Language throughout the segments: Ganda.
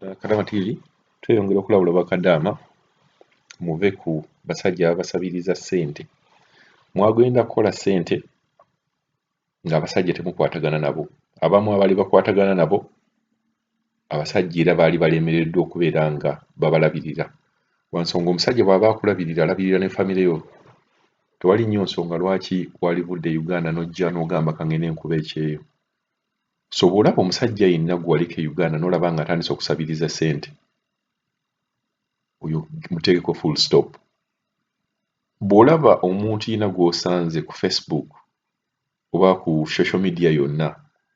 eh, kadaama tv tweyongera okulabula bakadaama muve ku basajja ababasabiriza ssente mwagenda kukola ssente ng'abasajja temukwatagana nabo abamu abaali bakwatagana nabo abasajja era baali balemereddwa okubeera nga babalabirira wansonga omusajja bw'aba akulabirira alabirira ne famire yo tewali nnyo nsonga lwaki wali budde uganda n'ojja n'ogamba kangende enkuba ekyeyo so bw'olaba omusajja yenna gwe waliko e Uganda n'olaba ng'atandise okusabiriza ssente oyo muteekeko full stop bw'olaba omuntu yena gw'osanze ku facebook oba ku social media yonna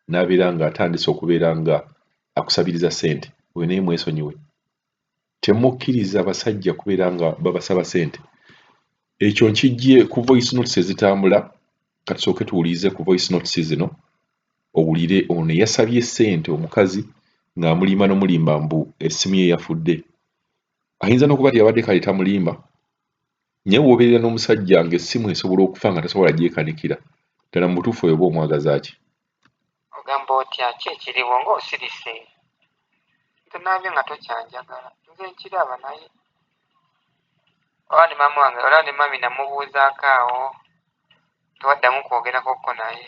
n'abeera ng'atandise okubeera nga akusabiriza ssente oyo naye mwesonyiwe temukkiriza basajja kubeera nga babasaba sente ekyo nkijje ku voice notes ezitambula katusooke tuwulirize ku voice notes zino owulire ono eyasabye sente omukazi ng'amulimba nomulimba mbu essimu ye yafudde ayinza n'okuba ti yabadde kale tamulimba naye wobeerera n'omusajja ng'essimu esobola okufa nga tasobola gyekanikira ddala mu butuufu oyo oba omwagazaaki Ogamba otya ki ekiriwo nga osirise? Tonaabye nga tokyanjagala nze nkiraba naye oba ne maama wange olaba ne mami namubuuzaako awo tewaddamu kwogerakokko naye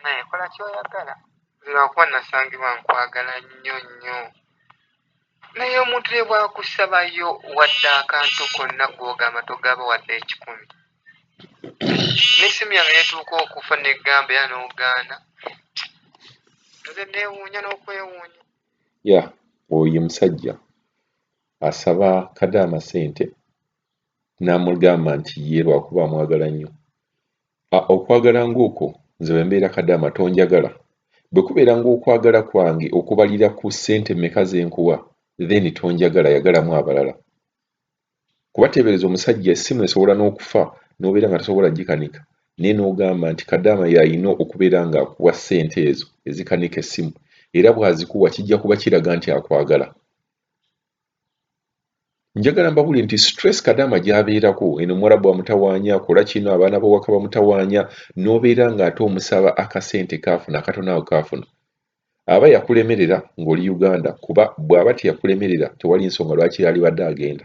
naye kola kyoyagala nze lwakuba nasangibwa nkwagala nnyo nnyo. Naye omuntu ne bwakusabayo wadde akantu konna gwogamba togaba wadde ekikumi nesimu yange netuuka okufa negamba era nogaana nze newuunya n'okwewuunya ya oyo musajja asaba kadaama sente n'amugamba nti ye lwakuba amwagala nnyo A, Okwagala ng'okwo nze bwe mbeera kadaama tonjagala? Bwe kubeera ng'okwagala kwange okubalira ku ssente mmeka ze nkuwa then tonjagala yagalamu abalala. Kuba teebereza omusajja essimu esobola n'okufa n'obeera nga tosobola gikanika naye n'ogamba nti kadaama y'alina okubeera ng'akuwa ssente ezo ezikanika essimu era bw'azikuwa kijja kuba kiraga nti akwagala. njagala mbabuli nti stress kadaama gyabeerako eno omuwarabu amutawaanya akola kino abaana bawaka bamutawaanya n'obeera ng'ate omusaba akasente kaafuna akatono awo kaafuna aba yakulemerera ng'oli uganda kuba bw'aba teyakulemerera tewali nsonga lwaki yalibadde agenda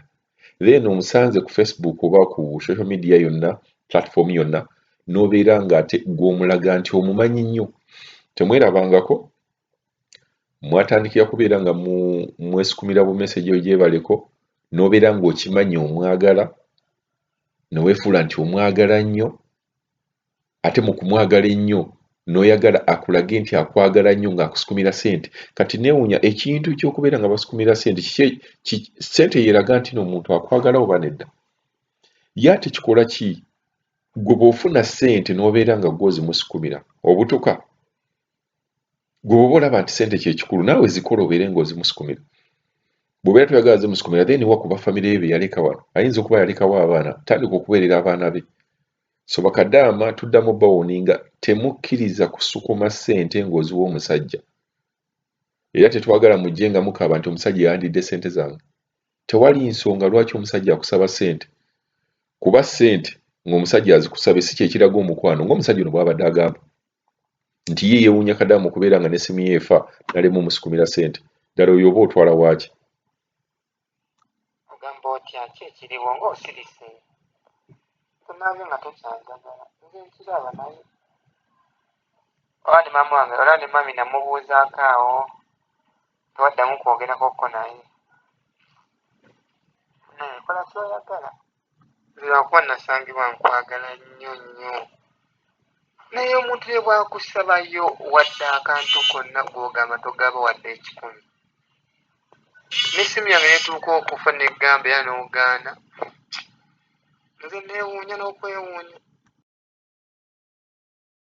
then omusanze ku facebook oba ku social media yonna platform yonna n'obeera ng'ate gw'omulaga nti omumanyi nnyo temwerabangako mwatandikira kubeera nga mwesukumira bumeseji ogyebaleko nobeera ng'okimanyi omwagala newefuula nti omwagala nnyo ate mu kumwagala ennyo noyagala akulage nti akwagala nnyo ng'akusukumira sente kati newunya ekintu kyokubeera nga basukumira sente kiki sente yeraga nti noomuntu akwagala oba nedda ye ate kikola ki gwe bwofuna sente nobeera nga gwozimusukumira obutuka gweoba olaba nti sente kyekikulu naawe zikola obeere nga ozimusukumira bwobeera toyagala zimusukumira then wa kuba famire ye beyaleka wano ayinza okuba yalekawo abaana tandika okubeerera abaana be so bakadaama tuddamu bawoninga temukkiriza kusukuma sente ng'oziwa omusajja era tetwagala mujje nga mukaaba nti omusajja yandidde sente zange tewali nsonga lwaki omusajja akusaba sente kuba sente ng'omusajja azikusabye si kyekiraga omukwano ng'omusajja ono bwabadde agamba nti ye yewunya kadamu okubeera nga nesimu ye efa nalema omusikumira sente ddala oyo oba otwala waaki ogamba otya ki ekiriwo nga osirise tonaabyo nga tokyanjagala nze nkiraba naye oba ne maama wange olaba ne mami namubuuzaako awo tewaddamu kwogerako ko naye naye kola kyoyagala lwakuba nasangibwa nkwagala nnyo nnyo naye omuntu ye bwakusabayo wadde akantu konna gwogamba togaba wadde ekikumi nesimu yange netuuka okufa negamba era nogaana nze newuunya n'okwewuunya